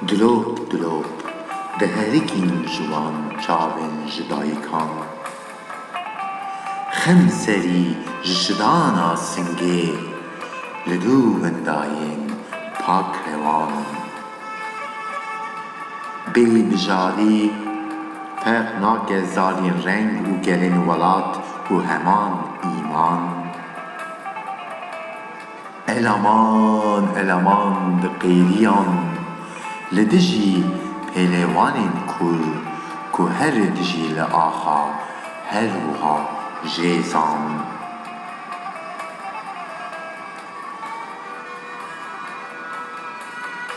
Dilop dilop diherikîn ji wan çavên ji dayikan. Xim serî ji şidana singê li dû vindayên pakrewan in. Bêyî bijarî ferq nake zalîn reng û gelên welat ku heman îman, eleman eleman di qêrîyan li dijî pêlewanên kur ku herê dijî li axa her wiha jê zan.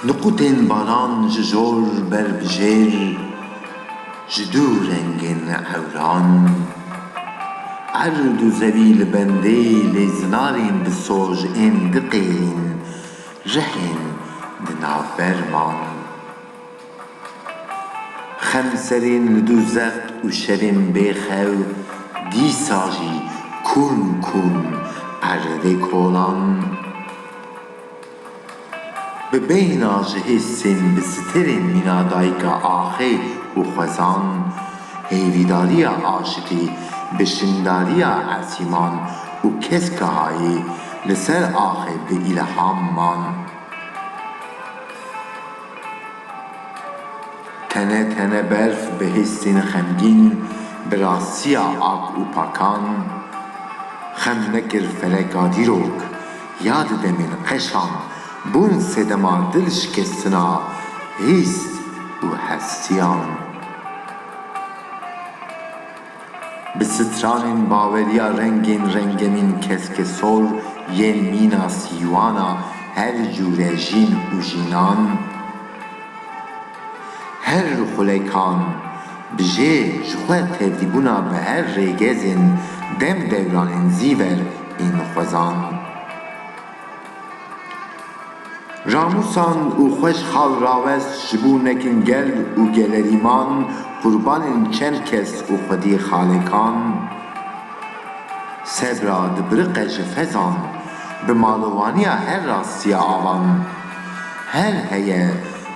Niqûtên banan ji jor ber bi jêr ji du rengên ewran, erd û zevî li bendê lê zinarên bi soj ên diqêrîn rihên di navber man. Xemserên li du zeq û şevên bê xew dîsa jî kûn kûn erdê kolan. Bi beyna ji hêsên bi siterên mîna dayika axê û xwezan, hêvîdariya aşikî bi şindariya Esîman û keska hayê li ser axê bi îlham man. Tene tene berf bi hêsên xemgîn, bi rastiya ak û pakan xem nekir feleka dîrok. Ya di demên qeşan bûn sedema dilşikestina hîs û hestiyan. Bi stranên baweriya rengên rengenîn keskesor yên mîna sîwana her cûre jîn û jînan, Her xulekan bi jê ji xwe tevdîbûna bi her rêgezên dem dewranên zî ver ên xwezan. Ramûsan û xweş xal rawest ji bo nekin gel û gelerîman qurbanên çend kes û xwedî xalekan. Sebra dibiriqe ji fezan, bi malowaniya her rastiya avan. Her heye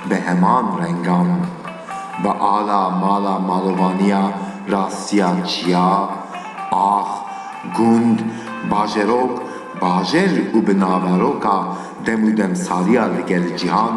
bi heman rengan. Bi ala mala malovaniya rastiya çiya, ax, gund, bajerok, bajer û bi naveroka dem û demsaliya li gel cîhan.